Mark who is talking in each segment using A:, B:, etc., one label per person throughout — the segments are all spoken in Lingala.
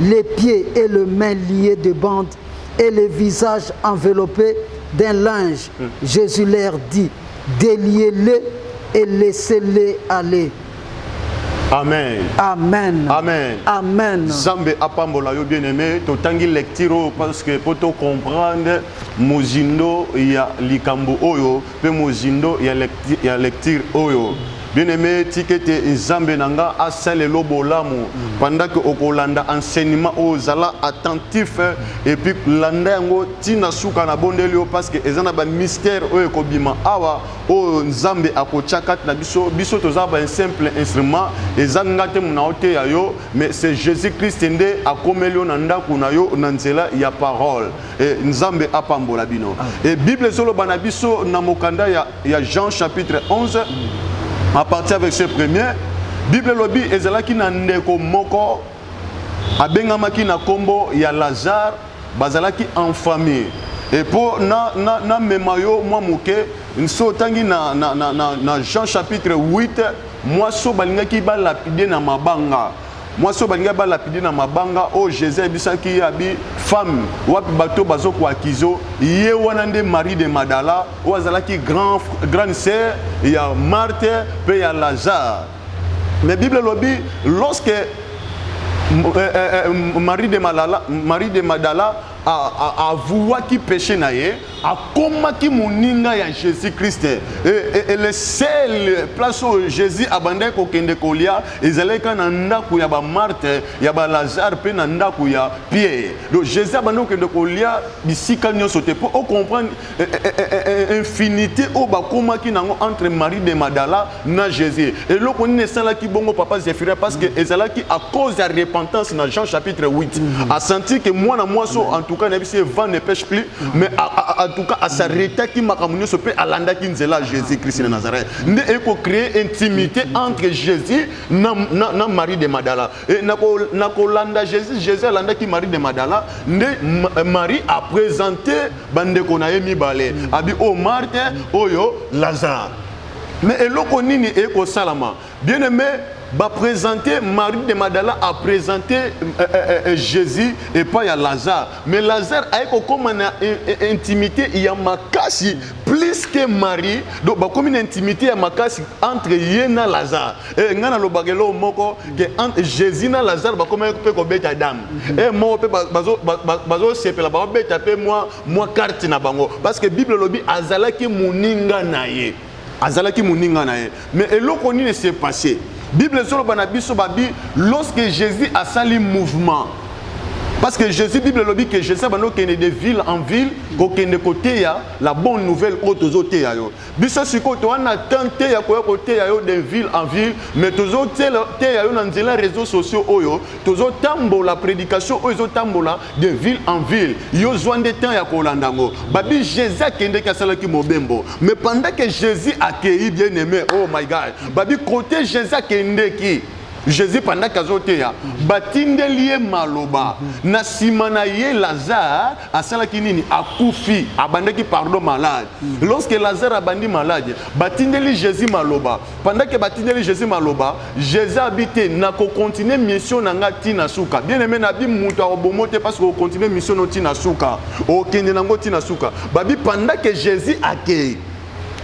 A: les pieds et les mains liés de bandes et les visages enveloppés d'un linge. Mm. Jésus leur dit, déliez-les et laissez-les aller.
B: Amen. Amen.
A: Amen. Amen.
B: Zambe
A: apambola
B: yo bien-aimé, totangi lecture parce que pour comprendre mozindo ya likambo oyo mpe mozindo ya lecture oyo bien aime tika ete nzambe na nga asalelo bolamu mm. pendant ke okolanda enseignement oyo zala attentif et puis landa yango ntina suka na bondeli yo parce que eza na bamystère oyo ekobima awa oyo nzambe akotya kati na biso biso toza basimple instrument eza nga te mona oteya yo mais c'est jésus christ nde akomeli yo na ndako na yo na nzela ya parole Eh, nzambe apambola bino e bible ezoloba na biso na mokanda ya, ya jean chapitre 11 à partir avec ce premier bible elobi ezalaki na ndeko moko abengamaki na nkombo ya lazare bazalaki en famille e mpo namema na, na yo mwa moke nso otangi na, na, na, na, na jean chapitre 8 mwaso balingaki balapide na mabanga mwasi oyo balingai balapide na mabanga oyo oh, jesus ayebisaki ye abi femme wapi bato bazo koakizo ye wana nde marie de madala oyo azalaki grand, grande sœur ya marte mpe ya lazare mais bible elobi lorsque eh, eh, eh, marie de madala, marie de madala avouaki péché na ye akomaki moninga ya jésus krist e, e, e, le seul place oyo jésus abandaki kokende kolia ezalaki kaka na ndako ya bamarte ya balazare mpe na ndako ya pierre donc jésus abandaki kokende kolia bisika nyonso te mpo ocomprendre infinité oyo bakomaki nango entre marie de madala na Jésus. Eloko nini esalaki bongo papa Zephyrin parce que ezalaki à cause ya repentance na Jean chapitre 8. Mm. A senti que mwana mwasi en tout cas nayebi se vent ne pêche plus mais en tout cas asaretaki makambo nyonso mpe alandaki nzela Jésus Christ na Nazareth. Nde eko créer intimité entre Jésus na, na, na Marie de Madala. Et na ko na kolanda Jésus, Jésus alandaki Marie de Madala, nde Marie a présenté bandeko na ye mibale. Abi o oh, Marthe oyo oh, Lazare. Mais eloko nini e ko salama? Bien aimé ba présenter Marie de Madala a présenter euh, euh, euh, euh Jésus et pas ya Lazare. Mais Lazare a ko koma na euh, euh, intimité ya makasi plus que Marie. Donc ba komi na intimité ya makasi entre ye na Lazare. Et nga na lobagelo moko que entre Jésus na Lazare ba komi pe ko beta dame. Et mo pe bazo bazo sepela ba beta pe moi mwa karte na bango parce que bible elobi azalaki moninga na ye azalaki moninga na ye mais eloko nini s'est passé bible ezoloba na biso babi lorsque jésus asali mouvement parce que jésus bible elobi que jésus abandi kokende de ville en ville kokende koteya la bonne nouvelle oyo tozoteya yo biso sikoyo toa na temps te ya koya koteya yo de ville en ville mais tozoteya yo na nzela réseaux sociaux oyo tozotambola prédication oyo ezotambola de ville en ville yo zwa nde temps ya kolanda yango babi jésus akendeki asalaki mobembo mais pendant que jésus akei bien aimé oh my god babi kote jésus akendeki jésus pendant ke azoteya batindeli ye maloba na nsima na ye lazare asalaki nini akufi abandaki pardon malade mm. lorsque lazare abandi malade batindeli jésus maloba pendant ke batindeli jésus maloba jésus abi te nakokontinue mission na ngai ti na suka bien aime nabi moto akobomo te parce que okontinue mission no ti na suka okende nango ti na suka babi pendant ke jésus akei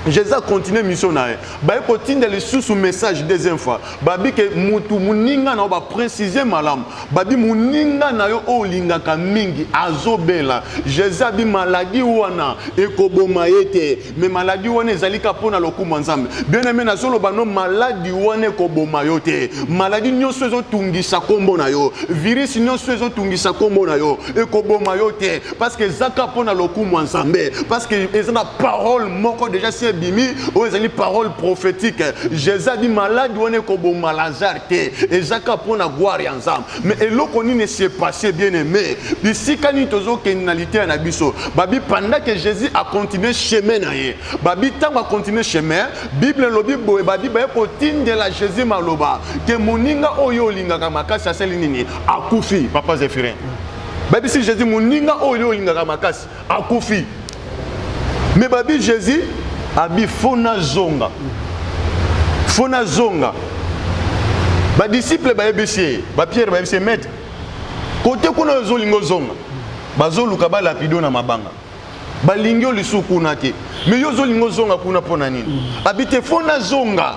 B: jesus akontinue mission na ye baye kotinda lisusu message deuxième fois babi ke mutu moninga na yo baprécise malamu babi moninga na yo oyo olingaka mingi azobela jesus abi maladi wana ekoboma ye te me maladi wana ezali ka mpo na lokumu ya nzambe bien aime nazoloba no maladi wana ekoboma yo te maladi nyonso ezotungisa nkombo na yo virisi nyonso ezotungisa nkombo na yo ekoboma yo te parce que ezaka mpo na lokumu ya nzambe parce que eza na parole moko déjà si ebimi oyo ezali parole prophétique jésus adi maladi wana ekoboma lazare te ezaka mpo na gloire ya nzambe mais eloko nini esi epasse bien aimé bisika nini tozokende na liteya na biso babi pendant que jésus acontinue chemin na ye babi ntango acontinue chemin bible elobi boye babi baye kotindela jésus maloba ke moninga oyo olingaka makasi asali nini akufi papa zephirin babisi jésus moninga oyo yo olingaka makasi akufi me babi jésus abi fo nazonga fo nazonga badisiple bayebisi ye bapierre bayebisi ye maître kote kuna ozolinga ozonga bazoluka balapido na mabanga balingi yo lisusu kuna te me yo ozolinga ozonga kuna mpo na nini abi te fo nazonga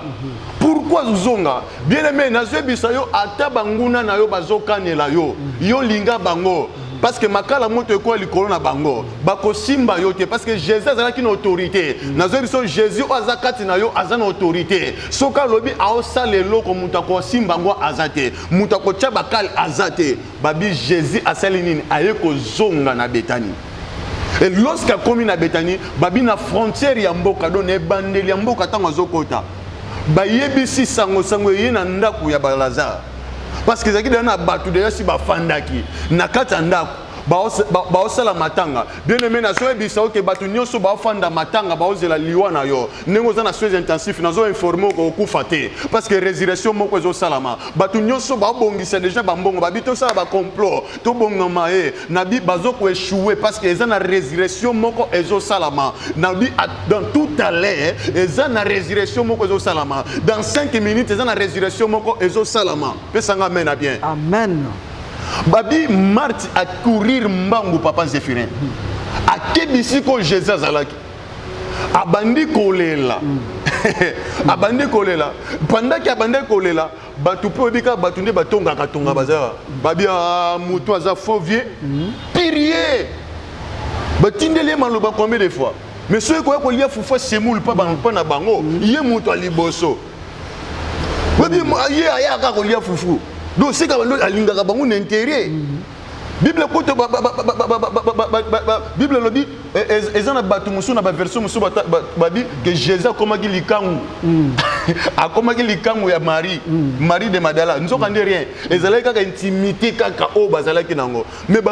B: pourkui ozonga bien aime nazoyebisa yo ata banguna na yo bazokanela yo yo linga bango parce que makala moto ekoya likolo na bango bakosimba yo te parce que jésus azalaki na autorité nazoyi biso jésus oyo aza kati na yo aza na autorité soki alobi aosala eloko moto akosimba yango aza te moto akotya bakale aza te Babi Jesus asali nini? Aye kozonga na Betani. Et lorsqu'à komi na Betani, babi na frontière ya mboka, donc na ebandeli ya mboka ntango azokota, bayebisi sango sango eye na ndako ya Balazare. Parce que ezalaki deja na bato deja si bafandaki na kati ya ndako baosala matanga bien aime nazoyebisa oke bato nyonso baofanda matanga baozela liwa na yo ndenge oza na soins intensif nazo informe okokufa te parce que résurrection moko ezosalama bato nyonso babongisa déjà bambongo babi tosala bacomplot tobongama ye nabi bazokoechoue parce que eza na résurrection moko ezosalama nabi dans tout à l'heure eza na résurrection moko ezosalama dans 5 minutes eza na résurrection moko ezosalama pesanga amen na bien amen
A: babi
B: marti acourir mbangu papa zéphirin akebisi ko jésus azalaki abandi kolela hmm. abandi kolela pandaki abandi kolela bato mpe oyebi kaka bato nde batongaka tonga bazala babia ah, moto aza faux vieux hmm. pirie batindeli ye maloba combien de fois mais soki koya kolia fufa semoule mpa na bango hmm. ye moto ya liboso oyebi ye ayaka kolia fufu donc seka alingaka bango na intere bible kutu bible elobi eza na bato mosusu na baversion mosusu babi ke jésus akomaki likangu hmm. akomaki likangu ya marie hmm. marie de madala nzoka nde rien ezalaki kaka intimité kaka oyo bazalaki nango mais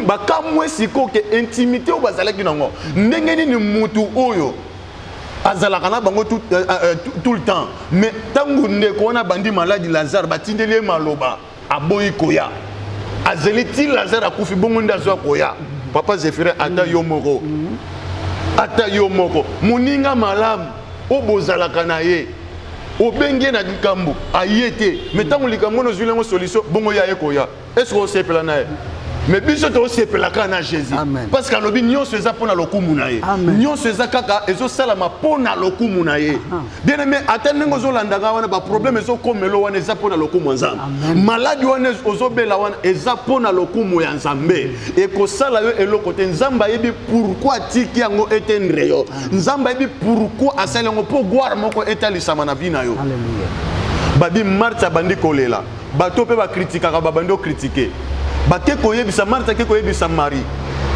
B: bakamwe sikoyo ke intimité oyo bazalaki nango ndenge nini motu oyo azalaka na bango tout, euh, euh, tout le temps mais ntango ndeko wana abandi maladi lazare batindeli ye maloba aboyi koya azeli ti lazare akufi bongo nde azwa koya papa zephirin ata yo moko ata yo moko moninga malamu oyo bozalaka na ye obengi ye na likambo aye te me ntango likambo ono ozwili yango solution bongo ya ye koya estce osepela na ye me biso tosepelaka na jésus parce que alobi nyonso eza mpo na lokumu na ye nyonso eza kaka ezosalama mpo na lokumu na ye bien aimé ata ndenge ozolanda ngai wana baproblème ezokomelo wana eza mpo na lokumu ya nzambe maladi wana ozobela wana eza mpo na lokumu ya nzambe ekosala yo eloko te nzambe ayebi pourkui atiki yango etendre yo nzambe ayebi pourkui asali yango mpo gware moko etalisama na vi na yo babi marte abandi kolela bato mpe bakritikaka babandi okritike bake koyebisa marte ake koyebisa marie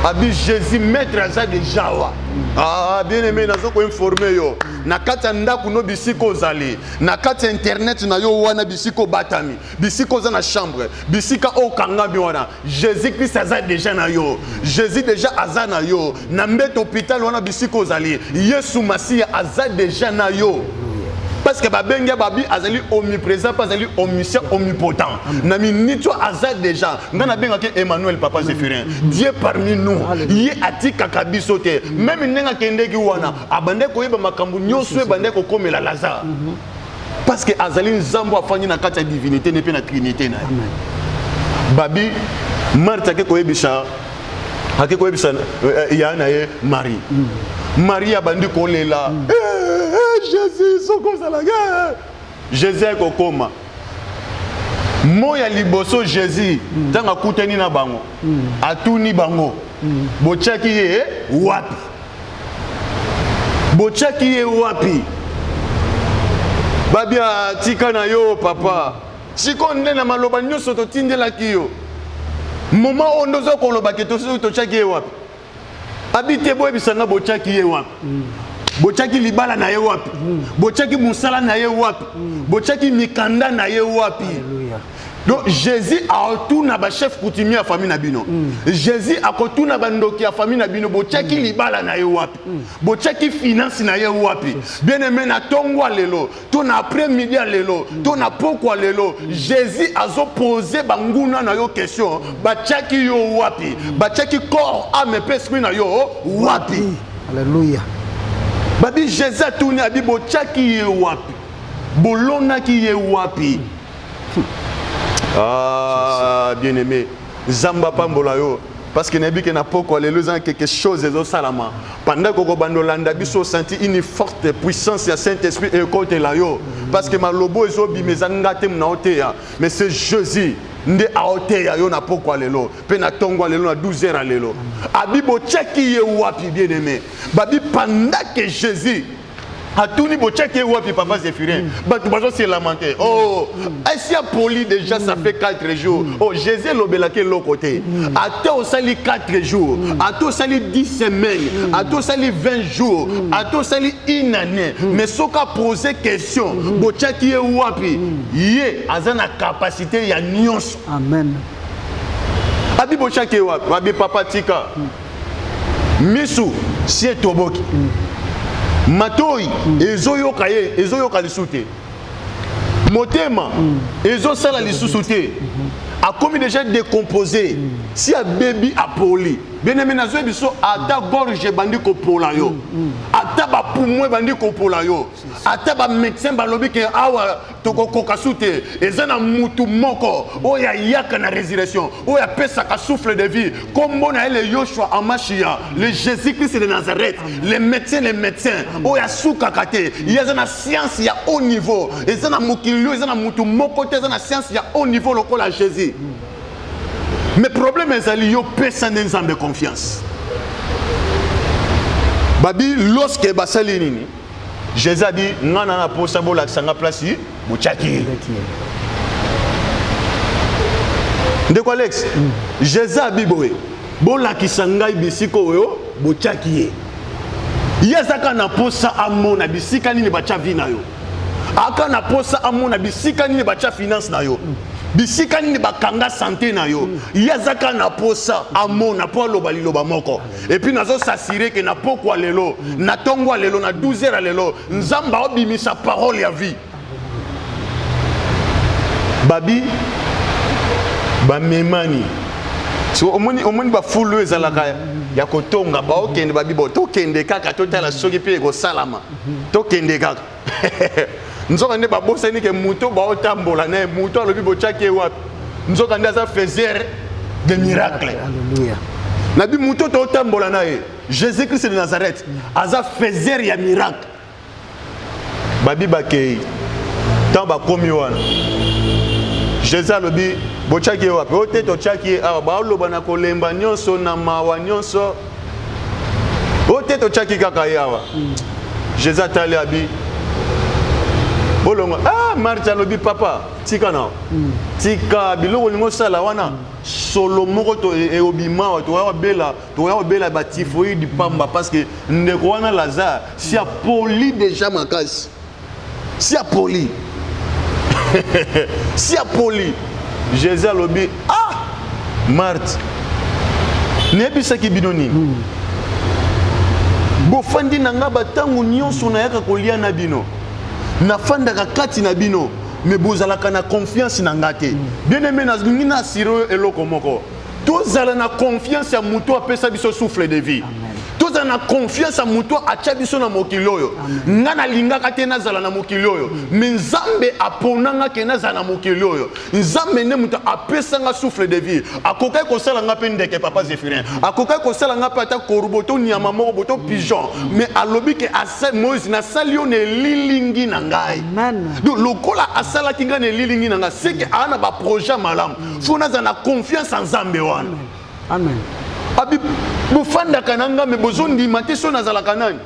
B: abi jésus maître aza deja wa ah, bien aimé naza koinforme yo na kati ya ndako no bisika ozali na kati ya internet na yo wana bisika obatami bisika oza na chambre bisika okangami wana jésus krist aza deja na yo jésus deja aza na yo na mbeto hôpital wana bisika ozali yesu masiya aza deja na yo parce que babengi ya babi azali omniprésent mpe azali omniscient omnipotent na miniti oyo aza déjà ngai nabengaki emmanuel papa zéphirin dieu parmi nous ye atikaka biso te meme ndenge akendeki wana abandaki koyeba makambo nyonso ebandaki kokomela lazare mhm. parce que azali nzambe afandi na kati ya divinité ne mpe na trinité na ye babi marthe ake koyebisa ake koyebisa euh, euh, ya na ye marie mhm. marie abandi kolela mhm. eh, eh, eh, jésus soki ozalaki Jesus ayaki kokoma moi ya liboso jesus ntango akutani na bango atuni bango botyaki ye wapi botyaki ye wapi babia tika na yo papa sikoyo nde na maloba nyonso totindelaki yo moma oyo nde oza koloba ke totyaki ye wapi abite boyebisa nga botyaki ye wapi mm. botyaki libala na ye wapi mm. botyaki mosala na ye wapi mm. botyaki mikanda na ye wapi Alleluia. donc jésus akotuna bachef coutumier ya famille na bino mm. jésus akotuna bandoki ya famille na bino botyaki mm. libala na ye wapi mm. botyaki finance na ye wapi bien aime na tongwa lelo to na après midi ya lelo to na pokwa lelo jésus azopose banguna na yo question batyaki yo wapi batyaki corps ame mpe esprit na yo wapi alleluya
A: babi
B: jésus atuni abi botyaki ye wapi bolonaki ye wapi ah bien aimé Zamba pambola yo parce que nayebi ke na pokwa lelo eza quelque chose ezosalama pendant kokobanda olanda biso osanti une forte puissance ya saint esprit ekotela yo parce que malobo ezobima eza nga te mona oteya mais c'est jésus nde aoteya yo na pokwa lelo mpe na ntongo ya lelo na 12 heures ya lelo abi botyaki ye wapi bien aimé babi pendant que jésus atuni botyaki ye wapi papa zéphirin mm. bato bazo se lamente mm. oh asi mm. apoli déjà ça fait 4 jours oh jésus elobelaki eloko te ata osali 4 jours ata osali 10 semaines ata osali 20 jours ata osali une année mais soki apose question botyaki ye wapi ye aza na capacité ya nyonso amen abi botyaki ye wapi abi papa tika misu si etoboki matoi ezoyoka ye ezoyoka lisusu te motema ezosala lisusu te akomi deja décomposé si abebi apoli benemi nazwi biso ata gorge ebandi kopola yo ata bapumo ebandi kopola yo ata bamédecin balobi ke awa tokokoka su te eza na mutu moko oyo ayaka na résurrection oyo apesaka souffle de vie nkombo na ye le yoshua amashiya le jésus christ de nazareth le médecin le médecin oyo asukaka te ye aza na science ya haut niveau eza na mokili oyo eza na mutu moko te eza na science ya haut niveau lokola jésus mais problème ezali yo pesa nde nzambe confiance babi loske basali nini Jesus a dit nga na posa bo lakisa nga place bo tchaki. Ndeko Alex, mm. Jesus a dit boye bo lakisa ngai bisika oyo bo tchaki ye. Ye azaka na posa amona bisika nini batcha vie na yo. Aka na posa amona bisika nini batcha finance na yo. Mm. bisika nini bakanga sante na yo ye azaka na posa amona mpo aloba liloba moko Et puis nazo s'assurer que na pokwa lelo, na tongwa lelo, na 12 heures lelo, nzamba obimisa parole ya vie. Babi bamemani so omoni omoni bafulu oyo ezalaka ya kotonga baokende babibo tokende kaka totala soki mpe ekosalama tokende kaka nzoka nde babosani ke moto baotambola naye moto alobi botyaki ye wapi nzoka nde aza faiseur de miracle nabi moto totambola na ye jésus christ de nazareth aza faiseur ya miracle babi bakei ntango bakomi wana jésus alobi botyaki ye wapi oyo te totyaki ye awa baoloba na kolemba nyonso na mawa nyonso oyo te totyaki kaka ye awa mm. jesus atali abi bolongo ah marti alobi papa tika na mm. tika biloko olingi osala wana solo moko eobimawa tokoya kobela tokoya kobela batifoide pamba parce que ndeko wana lazare si apoli déjà makasi si apoli si apoli jésus alobi ah marte nayebisaki bino nini hmm. bofandi na ngai bantango nyonso nayaka kolia na bino nafandaka kati na bino me bozalaka na confiance na ngai te hmm. bien aime nalingi na asire oyo eloko moko tozala na confiance ya moto apesa biso souffle de vie tozala na confiance ya moto atya biso na mokili oyo ngai nalingaka te nazala na mokili oyo mm. me nzambe apona nga ke nazala na mokili oyo nzambe nde moto apesa nga souffle de vie akokaki kosala nga mpe ndeke papa zephirin akokaki kosala nga mpe ata korbo to nyama moko boto mm. pigeon me alobi ke moïse nasali yo na elilingi na ngai donc lokola asalaki ngai na elilingi na ngai seke aa na baprojet malamu fo naza na confiance ya nzambe wana amen
A: abi
B: bofandaka na ngambe bozondima te so nazalaka nani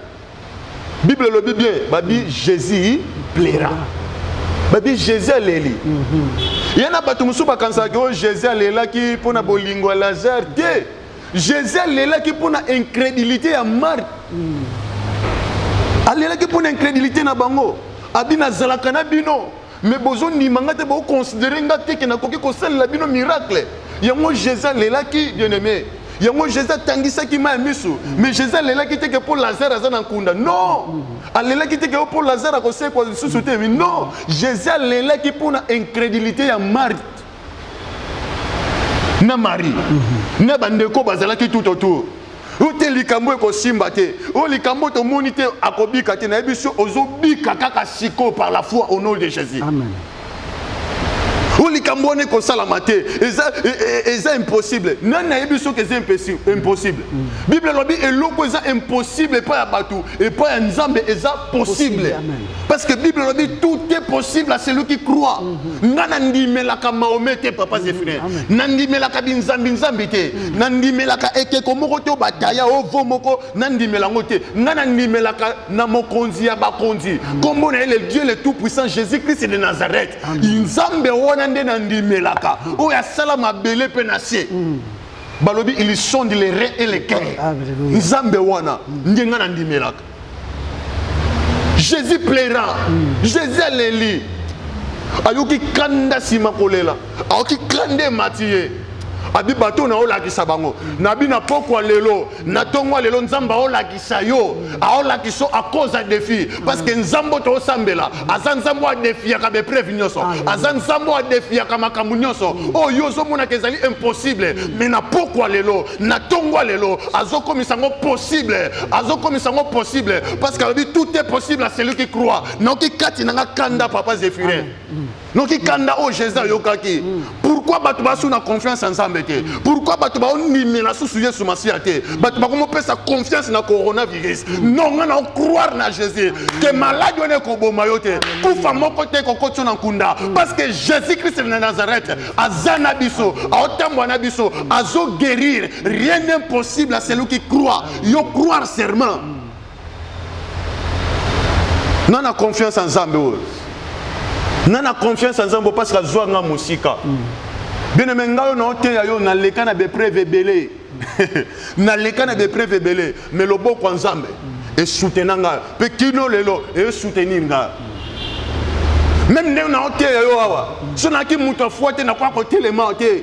B: bible elobi bien babi jésus plaira babi jésus aleli mhm. ye na bato mosusu bakanisaka oyo oh, jésus alelaki mpo na bolingo ya lazare te jésus alelaki mpo na incrédulité ya marthe mm. alelaki mpo na incrédulité na bango abi nazalaka na bino mais bozo ndima nga te bo considérer nga te ke nakoki kosalela bino miracle yango jésus alelaki bien aimé yango jésus atangisaki mai ya miso mais jésus alelaki te ke mpo lazare aza na nkunda non alelaki te ke yo mpo lazare akosekwa lisusu te non jésus alelaki mpo na incrédulité ya marthe na marie mhm. na bandeko bazalaki tout autour oyo te likambo ekosimba te oyo likambo tomoni te akobika te nayebi so ozobika kaka sikoyo par la foi au nom de jésus Amen.
A: oyo
B: likambo wana ekosalama te eza, e, e, e, eza impossible nani nayebi soki eza impossible mm. bible elobi eloko eza impossible epai ya bato epai ya nzambe eza possible, possible. Parce que Bible dit tout est possible à celui qui croit. Mhm. Nga nandimelaka Mahomet te papa mhm. Zephyrin. Nandimelaka binzambi nzambi te. Mhm. Nandimelaka ekeko moko to bataya ovo moko nandimela ngo te. Nga nandimelaka na mokonzi ya bakonzi. Kombo na le Dieu le tout puissant Jésus-Christ de Nazareth. Nzambe wana nde nandimelaka. Oyo asala mabele pe na se. Balobi ils sont les reins et les cœurs. Nzambe wana nde nga nandimelaka. jésus plaira mm. jésus aleli ayoki kanda nsima kolela ayoki kanda emati ye abi bato na olakisa bango na bina pokwa lelo na ntongo lelo nzambe aolakisa yo aolakisa akoza defi parce que nzambe oto osambela aza nzambe oyo adefiyaka baepreuve nyonso aza nzambe oyo adefiyaka makambo nyonso mm. oyo oh, yo ozomonaka ezali impossible me mm. na pokwa lelo na ntongwa lelo azokomisa yango possible azokomisa yango possible parce que alobi tout est possible à celui qui croit noki kati na nga kanda papa zephirin mm. noki kanda oyo oh, jésus ayokaki pourquoi bato basu na confiance ya nzambe te pourquoi bato baondimela susu yesu masiya te bato bakomopesa confiance na coronavirus no ngai na ocroire na jésus ke maladi wana ekoboma yo te kufa moko te ekokoti yo na nkunda parce que jésus christ na nazareth aza na biso aotambwa na biso azoguérir rien n'est possible à celui qui croit yo croire serment na na confiance ya nzambe oyo na na confiance ya nzambe parce que azwa nga mosika mm. bien aime ngai oyo naoteya yo naleka na bepreve ebele naleka na bepreve ebele me loboko ya nzambe mm. esutena ngai mpe kino lelo esoutenir ngai meme ndenge naoteya yo awa so nayaki moto afwa te nakoya kotelema te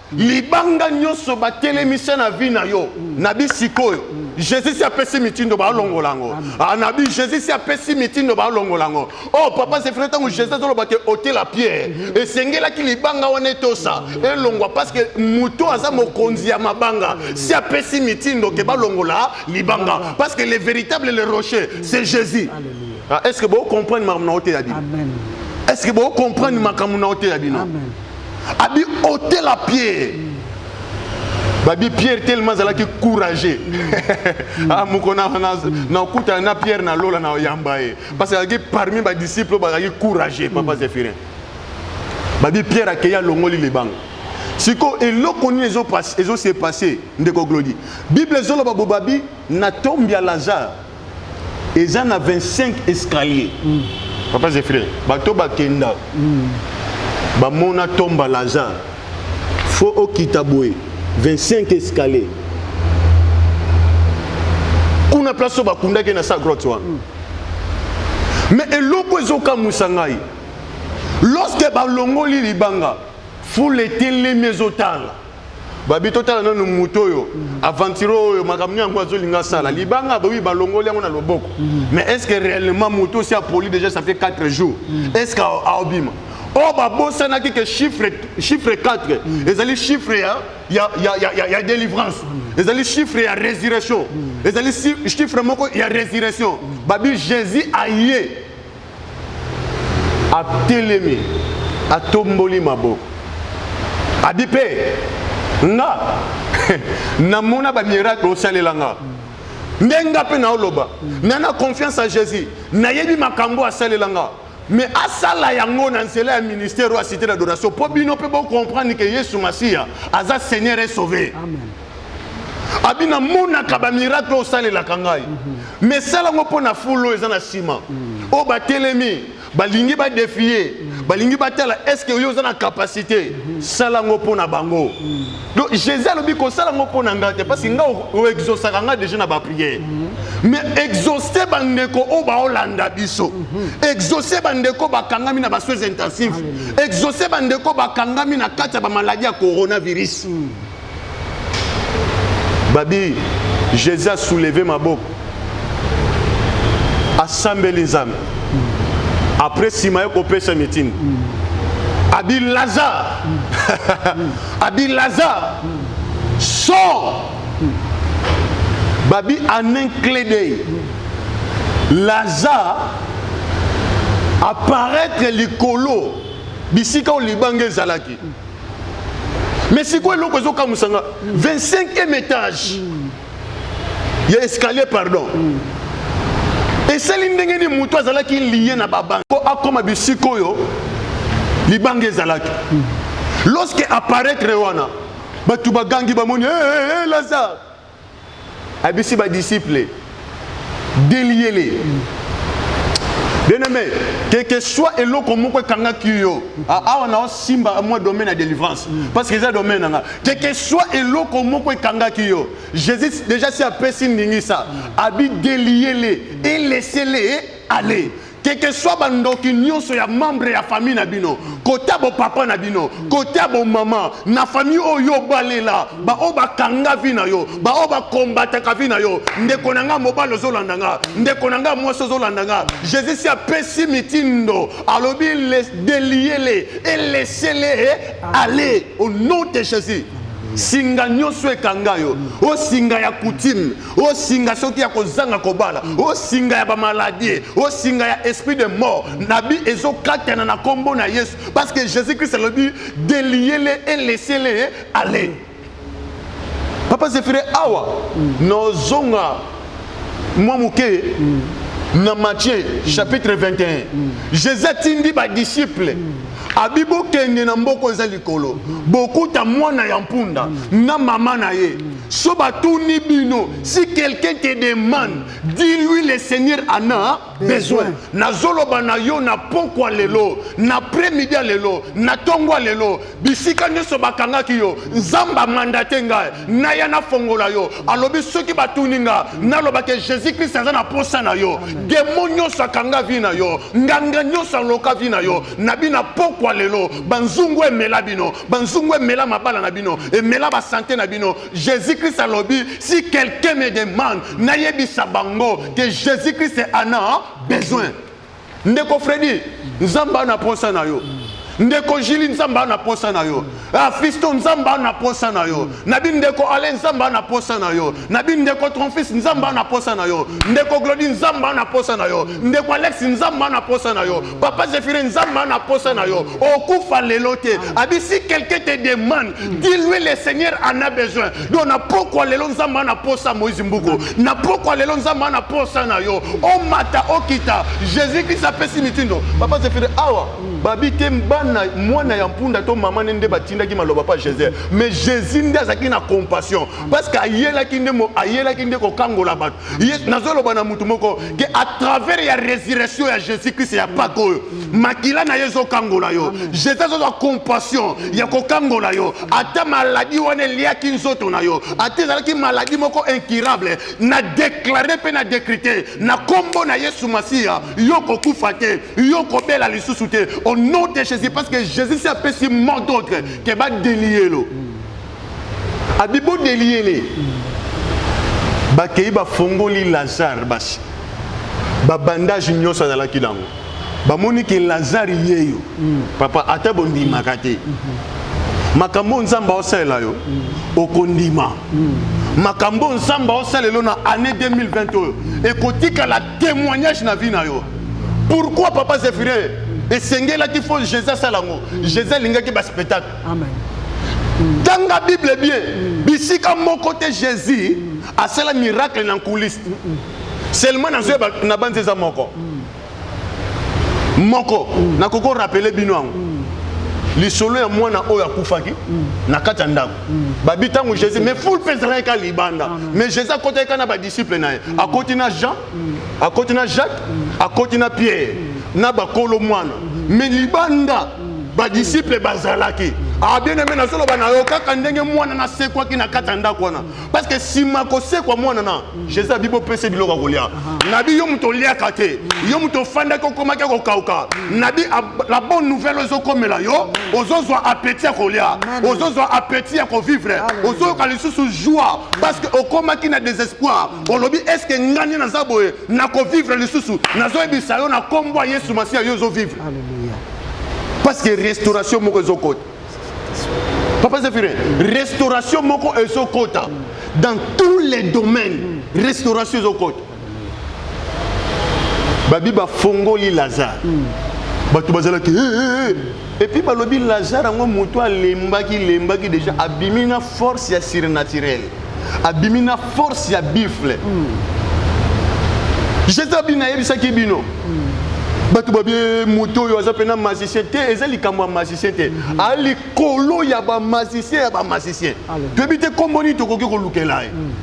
B: libanga nyonso batelemisa na vie na yo nabi sikoyo jésus si apesi mitindo balongola yango ah, nabi jésus si apesi mitindo balongola yango o oh, papa zefre ntango jésus azoloba te otela pierre mhm. esengelaki libanga wana etosa mhm. elongwa parce que moto aza mokonzi ya mabanga mhm. si apesi mitindo ke balongola libanga parce que le véritable le rocher c'est jésus ah, est ce que bocomprendre makambo na oteya bino est ce que bocomprendre makambo na oteya bino abi otela pierre babi pierre tellement azalaki courageux mm. ah, moko nakutana na pierre na lola na oyamba ye parce azalaki parmi badisciple oyo bazalaki courageux papa mm. zephirin babi pierre akei alongoli libanga sikoyo eloko nini ezose passe ndeko glodi bible ezoloba bobabi na tombi ya lazare eza na 25 escalier mm. papa zefire bato bakenda mm. bamona tomba lazare fo okita boye 25 escalier kuna place oyo bakundaki na sa grotte wana mm. me eloko ezokamwisa ngai lorsque balongoli libanga fule etelemi ezotala babi totala nanu moto oyo aventure oyo makambo yango azolinga asala libanga bawi balongoli yango na loboko mm. mais est ce que réellement moto osi apoli déjà ça fait 4 jours mm. est ce que aobima oyo oh, babosanaki ke chiffre, chiffre 4 mm. ezali chiffre ya, ya, ya, ya, ya, ya délivrance mm. ezali chiffre ya résurrection mm. ezali chiffre moko ya résurrection mm. babi jésus aye atelemi atomboli maboko abi mpe nga namona bamiracle osalela nga nde nga mpe naoloba na na confiance ya jésus nayebi makambo asalela nga me asala yango na nzela ya ministère oyo asite na adoration mpo bino mpe bocomprendre ke yesu masiya aza seigneur esauve abi namonaka bamiracle oyo osalelaka ngai mhm. mais sala yango mpo na fulu oyo eza na nsima mhm. oyo batelemi balingi badefie mhm. balingi batala estce oyo oza na kapasité sala yango mpo na bango donc jésus alobi kosala yango mpo na ngai te parce que ngai oexosaka ngai déjà na baprière mais exauce bandeko oyo baolanda biso exauce bandeko bakangami na basoins intensif exauce bandeko bakangami na kati ya bamaladi ya coronavirus mm. babi jesus asouleve maboko asambeli nzambe apres nsima ye kopesa mitindo abi lazare abi lazare sort babi en un clé d'œil lazare apparaître likolo bisika oyo libanga ezalaki mais sikoyo eloko ezokamwisa nga 25e étage ya escalier pardon esali ndenge nini moto azalaki liye na babanga mpo akoma bisika oyo libanga ezalaki lorsque apparaître wana bato bagangi bamoni hey, eh, eh, hey, eh, lazare abisi ba disciples deliele bien-aimé que que soit eloko moko ekangaki yo awa na osimba mwa domaine ya délivrance parce que eza domaine na nga que que soit eloko moko ekangaki yo jésus déjà si apesi ndingisa abi deliele elesele aller keke swa bandoki nyonso ya membre ya famille na bino kota bopapa na bino kota bomama na famille oyo obalela baoyo bakanga vi na yo baoyo bakombataka vi na yo ndeko na ngai mobali ozolanda nga ndeko na ngai mwasi ozolanda nga jésus si apesi mitindo alobi deliyele elesele e ale au nom de jésus singa nyonso ekanga yo osinga ya coutume o singa soki ya kozanga kobala o singa ya ba maladie o singa ya esprit de mort nabi ezo katana na kombo na Yesu parce que Jésus Christ alobi deliele et laissez-les aller papa Zefire awa mm. nozonga mwa moke mm. na Matthieu mm. chapitre 21 mm. Jésus atindi ba disciples mm. abi bokende na mboko eza likolo bokuta mwana ya mpunda na mama na ye So batuni bino, si quelqu'un te demande, dis-lui le Seigneur en a besoin. Nazoloba na yo na pokwa lelo, na après-midi lelo, na tongo lelo, bisika nyonso bakangaki yo, Nzambe amandate ngai, naya nafongola yo. Alobi soki batuni nga, naloba ke Jésus-Christ aza na posa na yo. Demo nyonso akanga vie na yo, nganga nyonso aloka vie na yo, na bina pokwa lelo, banzungu emela bino. banzungu emela mabala na bino emela basante na bino jésus christ alobi si quelqu'un me demande nayebisa bango que jésus christ en a besoin ndeko fredi nzambe ana mposa na yo ndeko jili nzambe ana mposa na yo afisto ah, nzambe ana mposa na yo na bino ndeko ale nzambe ana mposa na yo na bino ndeko tromfis nzambe ana mposa na yo ndeko glodi nzambe ana mposa na yo ndeko alex nzambe ana mposa na yo Papa Zéphirine, Nzamba na posa na yo. Okufa lelo te. Abi si quelqu'un te demande, dis-lui le Seigneur en a besoin. Donc na pokwa lelo Nzamba na posa Moïse Mbuko. Na pokwa lelo Nzamba na posa na yo. O mata okita. Jésus Christ apesi mitindo. Papa Zéphirine awa babi te bana mwana ya mpunda to mama ne nde batindaki maloba pa Jésus. Mais Jésus nde azaki na compassion parce que ayelaki nde ayelaki nde kokangola bato. nazoloba na moto moko ke à travers ya résurrection ya jésus christ ya paka oyo makila na ye ezokangola yo jésus azozwa compassion ya kokangola yo ata maladi wana eliaki nzoto na yo ata ezalaki maladi moko incurable na deklare mpe na dekrite na nkombo na yesu masiya yo kokufa te yo kobela lisusu te au nom de jésus parce que jésus si apesi mot d'autre ke badeliyelo mm. Abi bo deliele. Bakei bafongoli Lazare basi. Ba bandage nyonso azalaki nango. Bamoni ke Lazare yeyo. Mm. Papa ata bondimaka te. Mm -hmm. Makambo Nzambe aosalela yo mm. okondima. Mm. Makambo Nzambe aosalela na année 2020 oyo ekotikala témoignage na vie na yo. Pourquoi papa Zephyrin esengelaki fo Jésus asala yango? Jésus alingaki ba spectacle tanga bible bien bisika moko te jésus asala miracle na nkuliste seulement nazoyeba na banzi eza moko moko nakoki orapele bino yango lisolo ya mwana oyo akufaki mm. na kati ya ndako mm. babi ntango jésus mais fule mpe ezalaki kaka libanda mais jésus akotakika na badisiple na ye mm. akoti na jean akoti na jacques akoti na pierre na bakolo mwana mais libanda badisiple bazalaki ah, bien aime nazoloba na yo kaka ndenge mwana nasekwaki na kati ya ndako wana parce que nsima kosekwa mwana na jésus abi bopese biloko ya kolia nabi yo moto oliaka te yo moto ofandaki okomaki ya kokauka nabi la bonne nouvelle ozokomela yo ozozwa appétit ya kolia ozozwa appétit ya kovivre ozoyoka lisusu joie parce que okomaki na désespoir olobi eske nga nde naza boye nakovivre lisusu nazoyebisa yo na nkombo ya yesu masiya yo ozovivre parce que restauration moko ezokota papa zephirin restauration moko ezokota dans tous les domaines restauration ezokota babi bafongoli lazare mm. bato bazalaki hey, hey, hey. epuis balobi lazare yango moto alembaki lembaki déjà abimi na force ya surnaturele abimi na force ya bifle mm. jeta bino nayebisaki bino mm. bato babie moto oyo aza mpena magicien te eza likambo ya magicien te mm. a likolo ya bamagicien ya bamagicien toyebi te nkombo nini tokoki kolukela ye mm.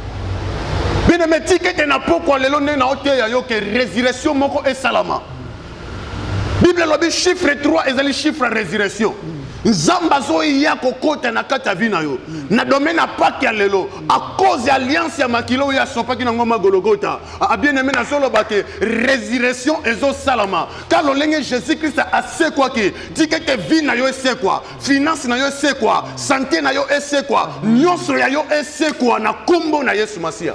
B: bino metikete na pokwa lelo nde naoteya yo ke resurrection moko esalama bible elobi chiffre 3 ezali chiffre ya résurrection nzambe azoya kokota na kati ya vi na yo na domaine ya pake ya lelo a cause ya alliance ya makila oyo asopaki na ngomba gologota abien aime nazoloba te résurrection ezosalama ka lolenge jésus krist asekwaki tika ete vi na yo esekwa finance na yo esekwa sante na yo esekwa nyonso ya yo esekwa na nkombo na yesu masiya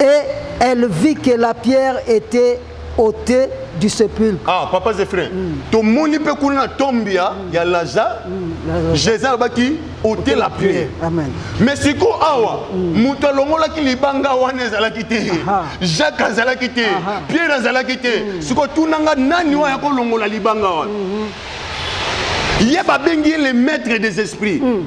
A: Et elle vit que la pierre était ôtée du sépulcre. Ah, papa Zéphirin, mm.
B: to moni pe kuna na tombe ya mm. ya Lazare. Mm. Jésus alobaki ôter la pierre. Amen. Mais siko awa mm. moto alongolaki libanga wana ezalaki te. Jacques azalaki te. Pierre azalaki te. Mm. Siko tunanga nani mm. waya ko longola libanga wana. Mm -hmm. Ye babengi ye le maître des esprits. Mm.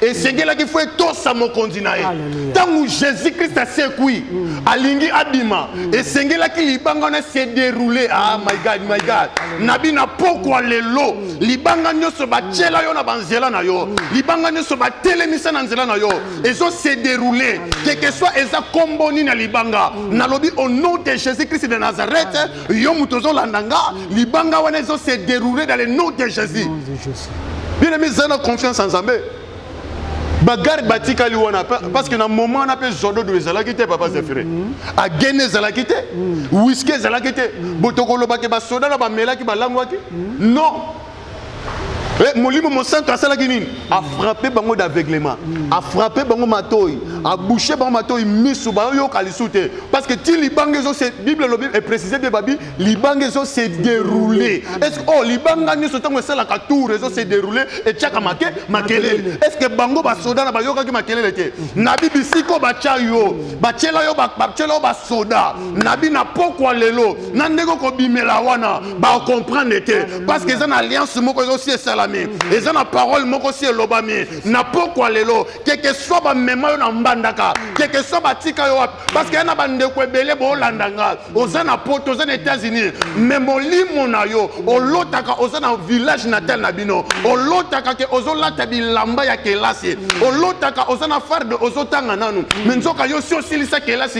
B: esengelaki fo etosa mokonzi na ye ntango jésus christ asekwi mm. alingi abima mm. esengelaki libanga wana se déroule ah my god my god na bina pokwa lelo mm. libanga nyonso batyela yo na banzela na yo libanga nyonso batelemisa na nzela na yo ezo se déroule keke soit eza nkombo nini ya libanga nalobi au nom de jésus christ de nazareth yo moto ozolanda nga libanga wana ezo se dérouler dans le nom de jésus bien aimé zala na confiance ya nzambe bagarde batikali wana parce que na moment wana mpe zododo ezalaki te papa zefire mhm. agene ezalaki te mhm. wiski ezalaki te mhm. botokolobake basoda na bamelaki balangwaki non Eh, molimo mosantu asalaki nini mm. afrape bango d'aveuglement mm. afrape bango matoi mm. abouche bango matoi misu bayoyoka lisu te parce que ti libanga ezo bible elobi eprécise bie babi libanga ezo se déroule est ce que oh libanga nyonso ntango esalaka tour ezo se déroule etiaka make makelele est ce que bango basoda na bayokaki makelele te nabi bisika oyo batya yo batyela yo batyela yo basoda nabi na pokwa lelo na ndenge okobimela wana ba comprendre te parce que eza na alliance moko ezo si esalami mhm. eza na parole moko si elobami na pokwa lelo keke soit bamema yo na mbandaka mhm. keke soit batika yo wapi parce que ya na bandeko ebele boolanda nga oza na poto oza na états-unis mhm. mais molimo na yo olotaka oza na village natal na bino olotaka ke ozolata bilamba ya kelasi olotaka oza na farde ozotanga nanu mais nzoka yo si osilisa kelasi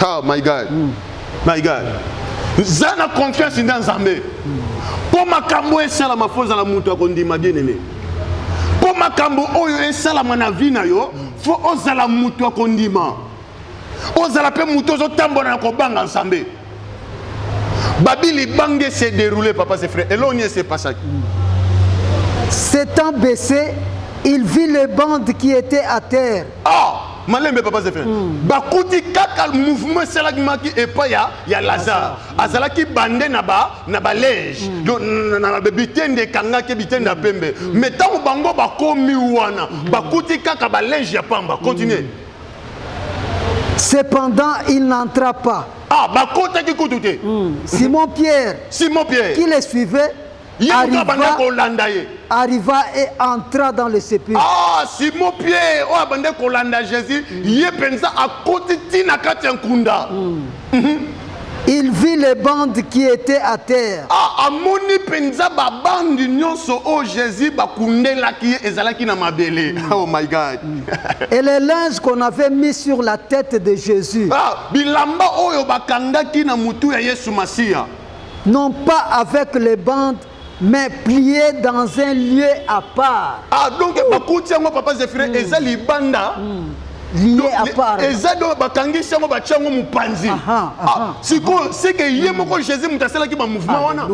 A: ah my
B: god mm. my god za na confiance nda nzambe mpo makambo esalama fo ozala moto akondima bien aimé mpo makambo oyo esalama na vie na yo fo ozala moto akondima ozala mpe moto ozotambola na kobanga nzambe babili bange se déroule papa se frère eloko nini esepasaki s'étant
A: baissé il vit les bandes qui étaient à terre oh! malembe
B: papa zefe mm. bakuti kaka mouvement esalamaki epai ya, ya lazare mm. azalaki bande na ba na balege mm. donc na bitende ekangaki bitende ya mm. pembe mm. mais ntango bango bakomi wana mm. bakuti kaka balege ya pamba continue mm.
A: Cependant, il n'entra pas. Ah, Bakota
B: qui Simon Pierre.
A: Simon Pierre. Qui les suivait arriva, arriva et entra dans le sépulcre. Ah, Simon
B: Pierre, oh, abandé kolanda Jésus, mm. yé pensa à côté tina katia nkunda. Mm. Mm -hmm.
A: Il vit les bandes qui étaient à terre. Ah, amoni
B: penza ba bande nyonso oh Jésus ba kundelaki ezalaki na mabele. Mm. Oh my God. Mm. Et les
A: linges qu'on avait mis sur la tête de Jésus. Ah, bilamba
B: oyo bakangaki na mutu ya Yesu Masiya. non pas
A: avec les bandes mais plier dans un lieu à part ah donc bakuti
B: yango papa zephirin mm. eza libanda mm.
A: lieu à part eza donc bakangisi
B: yango batya yango mopanzi ah, sikoyo seke ye moko jésus moto asalaki bamouvement wana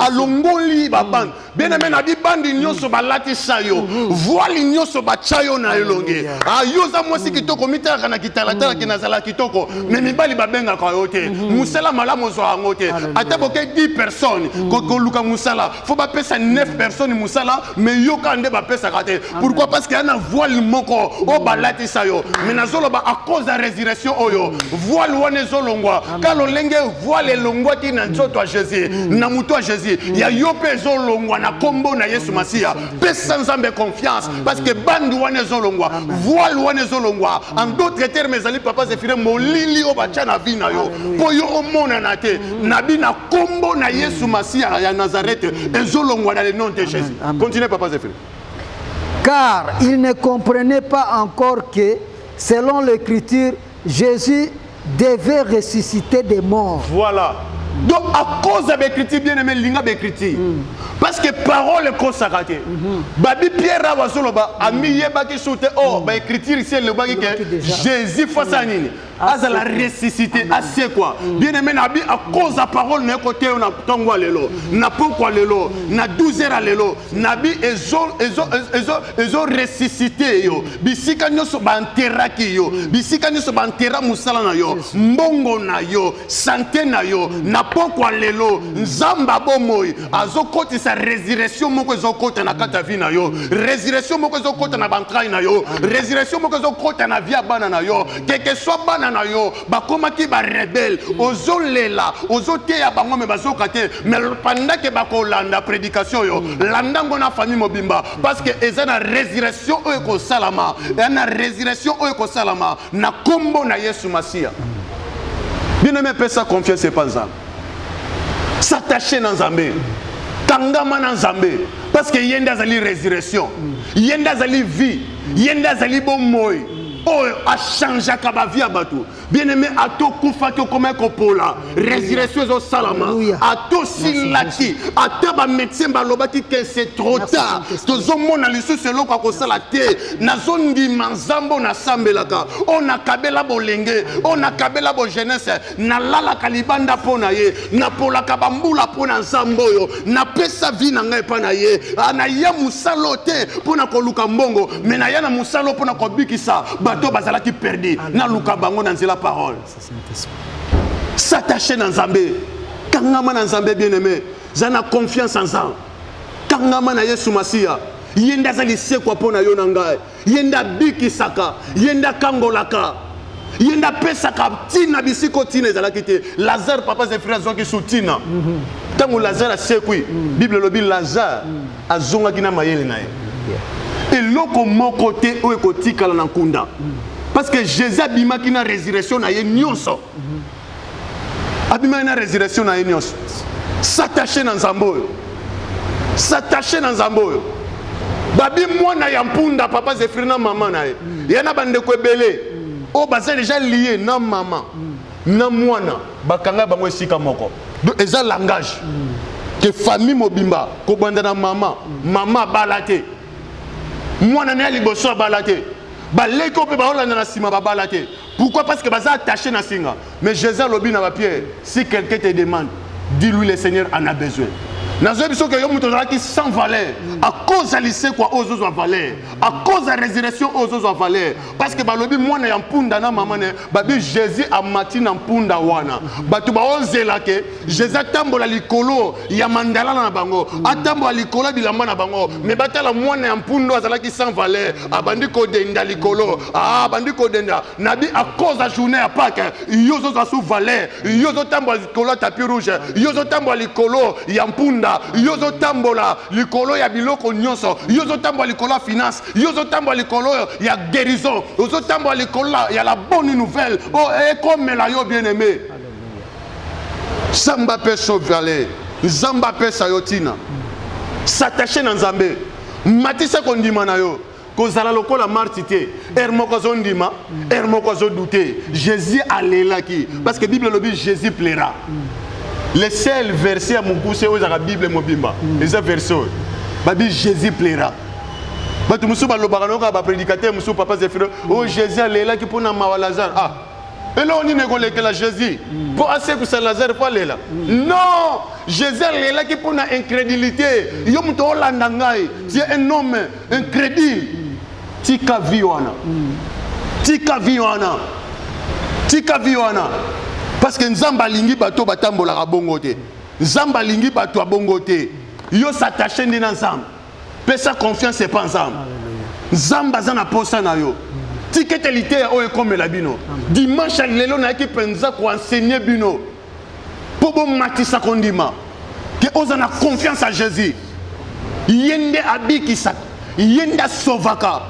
A: alongoli
B: babande bien aime na bibandi nyonso balatisa yo mhm. voile nyonso batya yo na elongi ah, yo oza mwasi kitoko mitalaka na kitalatala mhm. ke nazala kitoko mhm. me mibali babengaka yo te mosala malamu ozwa yango te ata boke 10 personnes koluka mosala fo bapesa 9 personnes mosala me yoka nde bapesaka te pourquoi parce que ya na voile moko oyo balatisa yo me nazoloba à cause ya résurrection oyo voile wana ezolongwa ka lolenge voile elongwaki na nzoto ya jésus mm. na moto ya jésus mm. ya yo mpe ezolongwa na nkombo na yesu masiya pesa nzambe confiance parce que bandi wana ezolongwa voile wana ezolongwa en d'autres termes ezali papa zefire molili oyo batya na vi na yo mpo yo omonana te mm. na bi na nkombo na yesu masiya ya nazarete ezolongwa na le nom de jésus continue papa zefire car
A: il ne comprenait pas encore que selon l'écriture Jesus devait ressusciter des morts. Voilà.
B: Donc à cause ya baecriture bien aimé linga baecriture mm. parce que parole ekosaka te mm -hmm. babi pierre awa azoloba mm. amiyebaki su te oh mm. baecriture isi elobaki ke jésus face ya mm. nini ah, azala ressuscité asekwa mm. bien aimé nabi à cause ya parole na ye koteyo na ntongo ya lelo mm. na pokwa lelo na 12 heures ya lelo nabi ezo, ezo, ezo, ezo ressuscité yo bisika nyonso banteraki yo mm. bisika nyonso bantera mosala na yo mbongo na yo sante na yo mm. na pokwa lelo mm. nzambe abomoi azokotisa resurrection moko ezokota na kati ya vi na yo resurrection moko ezokota na bantrai na yo resurrection moko ezokota na vi ya bana na yo keke swa bana na yo bakomaki barebele ozolela ozoteya bango me bazoka te me pendant ke bakolanda prédication yo landa ngo na famille mobimba parce que eza na résurrection oyo ekosalama eza na résurrection oyo ekosalama na nkombo na yesu masiya bino mepesa confiance epa nzambe s'attache na nzambe kangama na nzambe parce que ye nde azali résurrection ye nde azali vie ye nde azali bomoi oyo achangeaka bavie ya bato bien aimé ata okufaki okomaki kopola résurrection ezosalama ata osilaki ata bamédecin balobaki ke c'est trop tard tozomona lisusu eloko ya kosala te nazondima nzambe oyo nasambelaka oyo nakabela bolenge oyo nakabela bojeunesse nalalaka libanda mpo na ye napolaka bambula mpo na nzambe oyo napesa vi na ngai epai na ye ah, naya mosala oyo te mpo na koluka mbongo me naya na mosala oyo mpo na kobikisa bato bazalaki perdi naluka bango na nzela parole s'attache na nzambe kangama na nzambe bien aime za na confiance en nzambe kangama na yesu masiya ye nde aza lisekwa mpo na yo na ngai ye nde abikisaka ye nde akangolaka ye nde apesaka ntina bisiko ntina ezalaki te lazare papa zefiri azwaki su ntina ntango lazare asekwi bible elobi lazare azongaki na mayele na ye eloko moko te oyo ekotikala na nkunda parce que jésus abimaki na résurrection na ye nyonso abimaki na résurrection na ye nyonso s'attache na nzambe oyo s'attache na nzambe oyo babi mwana ya mpunda papa zefiri na mama na ye ye na bandeko ebele oyo baza deja lie na mama na mwana bakanga bango esika moko donc eza langage ke famille mobimba kobanda na mama mama abala te mwana na ya liboso abala te baleki oyo mpe baolanda na nsima babala te Pourquoi Parce que baza attaché na singa. Mais Jésus alobi na ba Pierre, si quelqu'un te demande, dis-lui le Seigneur en a besoin. nazoyebi soki yo moto ozalaki sans valeur akoz ya lisekwa oyo ozozwa valeur akoz ya résurrection oyo ozozwa valeur parce que balobi mwana ya mpunda na mama ne babi jésus amati na mpunda wana bato baozela ke jesus atambola likolo ya mandalana na bango atambola likolo ya bilamba na bango me batala mwana ya mpundu azalaki sans valeur abandi kodenda likolo ah, abandi kodenda nabi akoz ya journée ya pake yo ozozwa sous valeur yo ozotambola likolo ya tapi rouge yo ozotambola likolo ya mpunda yo ozotambola likolo ya biloko nyonso yo ozotambola likolo ya finance yo ozotambola likolo ya guérison ozotambola likolo ya la bonne nouvelle oyo oh, ekomela eh, yo bien aimé samba mpe sovale nzambe apesa yo ntina satache na nzambe matisa kondima na yo kozala lokola marti te ere moko azondima ere moko azodute jésus alelaki parce que bible elobi jésus plaira le seul verset ya mokuse oyo ezalaka bible mobimba eza verset oyo babi jésus plaira bato mosusu balobaka nayoka bapredikatere mosusu papa zefiro oyo oh, jésus alelaki mpo na mawa lazare ah eloko nini ekolekela jésus mpo mm. asekwisa lazare mpo alela mm. non jésus alelaki mpo na incrédulité mm. yo moto olanda ngai tie un homme incrédule tika vi wana tika vi wana tika vi wana parce que nzambe alingi bato batambolaka bongo te nzambe alingi bato ya bongo te yo s'attache nde na nzambe pesa confiance epa nzambe nzambe aza na posa na yo tika ete liteya oyo ekomela bino dimanche ya lelo nayaki mpenza koensegne bino mpo bomatisa kondima ke oza na confiance ya jésus ye nde abikisaka ye nde asovaka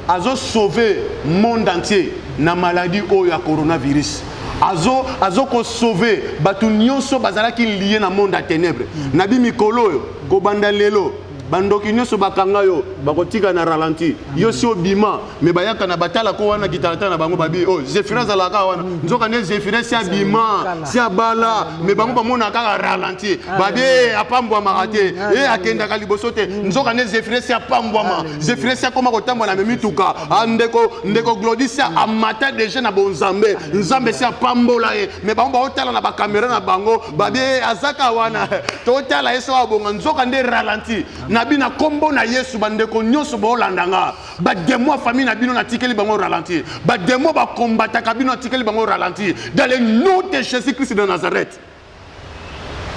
B: azo sauver monde entier na maladie oyo ya coronavirus azo azo ko sauver bato nyonso bazalaki lie na monde ya ténèbre mm. na bi mikolo oyo kobanda lelo bandoki nyonso bakanga yo bakotika na ralenti yo si obima me bayaka na batala ko wana kitalatala na bango babi oyo oh, zefira azalaka wana mm. nzoka nde zefira si abima si abala me bango bamonaka kaka ralenti babi eh, apambwamaka te e akendaka liboso te mm. nzoka nde zefira si apambwama zefiresi akoma kotambola na mimituka ah, ndeko ndeko glodisia amata deja na bonzambe nzambe si apambola ye me bango baotala na bakamera na bango babie azaka wana totala ye soki abonga nzoka nde ralenti na bino nkombo na yesu bandeko nyonso boolanda nga bademo ya famille na bino natikeli bango ralenti bademo bakombataka bino natikeli bango ralenti dans le nom de jésus christ de nazareth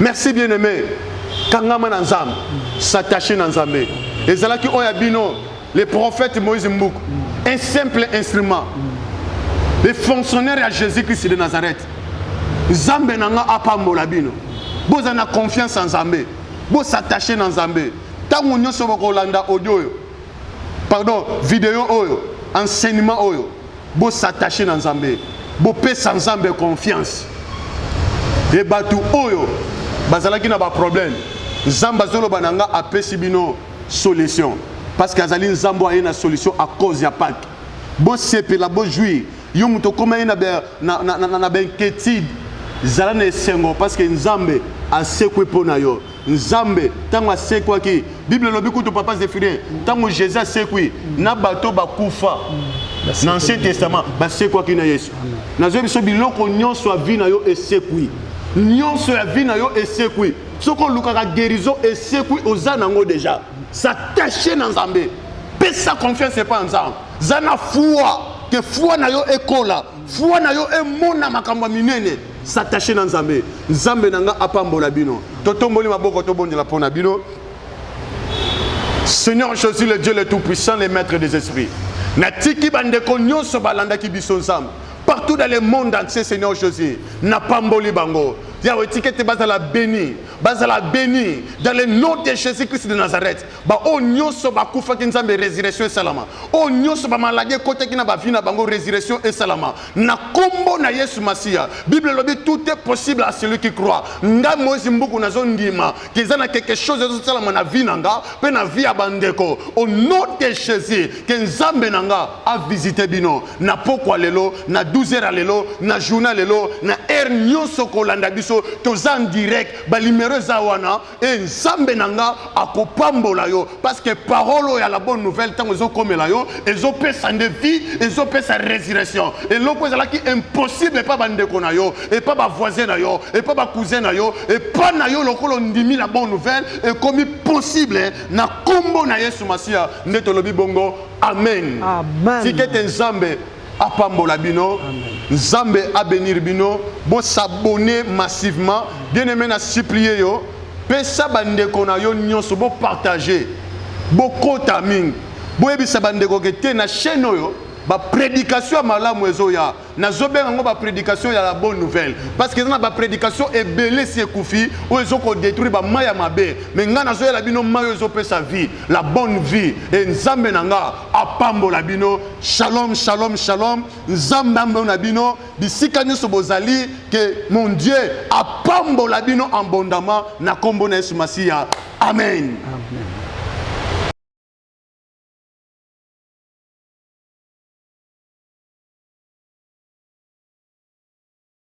B: Merci bien aimé. Kangama na Nzambe, s'attacher na Nzambe. Ezalaki oya bino le prophète Moïse Mbuku, un simple instrument. Le fonctionnaire ya Jésus-Christ de Nazareth. Nzambe na nga apambola bino. Boza na confiance en Nzambe. Bo s'attacher na Nzambe. Tango nyoso bokolanda audio oyo. Pardon, video oyo, enseignement oyo. Bo s'attacher na Nzambe. Bopesa Nzambe confiance. E bato oyo bazalaki na ba problème Nzambe azoloba na nga apesi bino solution parce que azali Nzambe aye na solution à cause ya Pâques. Bosepela, bojouir. Yo moto okoma ye na ba na, na, na, na, na ba inquiétude, zala na esengo parce que Nzambe asekwi mpo na yo. nzambe ntango asekwaki bible elobi kutu papa zephirin ntango jésus asekwi na bato bakufa na ancien testament basekwaki na yesu nazwi biso biloko nyonso ya vi na yo esekwi nyonso ya vi na yo esekwi soki olukaka guérison esekwi oza nango deja s'attache na nzambe pesa confiance epai ya nzambe za na foi ke foi na yo ekola foi na yo emona makambo ya minene S'attacher na Nzambe. Nzambe na nga apambola bino. Totomboli maboko tobondela pona bino. Seigneur Jésus le Dieu le tout puissant le maître des esprits. Natiki bandeko nyonso balandaki biso Nzambe. Partout dans le monde entier Seigneur Jésus, napamboli bango. Yahweh tikete bazala béni, bazala béni dans le nom de Jésus-Christ de Nazareth. baoyo nyonso bakufaki nzambe resurrection esalama oyo nyonso bamaladi ekotaki na bavi na bango resurrection esalama na nkombo na yesu masiya bible elobi tout est possible à celui qui croit nga moise mbuku nazondima keza na quelque chose ezosalama na vi na nga mpe na vi ya bandeko au nom de jésus ke nzambe na nga avisite bino na pokwa lelo na 12 heures ya lelo na journa lelo na heure nyonso kolanda biso toza en direct balimero eza wana e nzambe na nga akopambola yo parce que parole oyo ya la bonne nouvelle ntango ezokomela yo ezopesa nde vie ezopesa résurrection eloko ezalaki impossible epa bandeko na yo epa bavoisin na yo epa bacousin na yo epa na yo lokola ondimi la bonne nouvelle ekomi possible na nkombo na yesu masiya nde tolobi bongo amen, amen. tikete
A: nzambe
B: apambola bino nzambe abenir bino bosabone massivement bien aimé na supplie yo pesa bandeko na yo nyonso bopartage bokota mingi boyebisa bandeko ke te na chaîne oyo baprédication ya malamu ezoya nazobenga yango baprédication ya la bonne nouvelle parce que eza na baprédication ebele esi ekufi oyo ezokodétruire bamai ya mabe me ngai nazoyela bino mai oyo ezopesa vie la bonne vie e nzambe na ngai apambola bino Shalom, shalom, shalom. Nzambe ambo na bino, bisika nyoso bozali, que mon Dieu apambola bino abondamment na kombo na Yesu Masiya. Amen. Amen.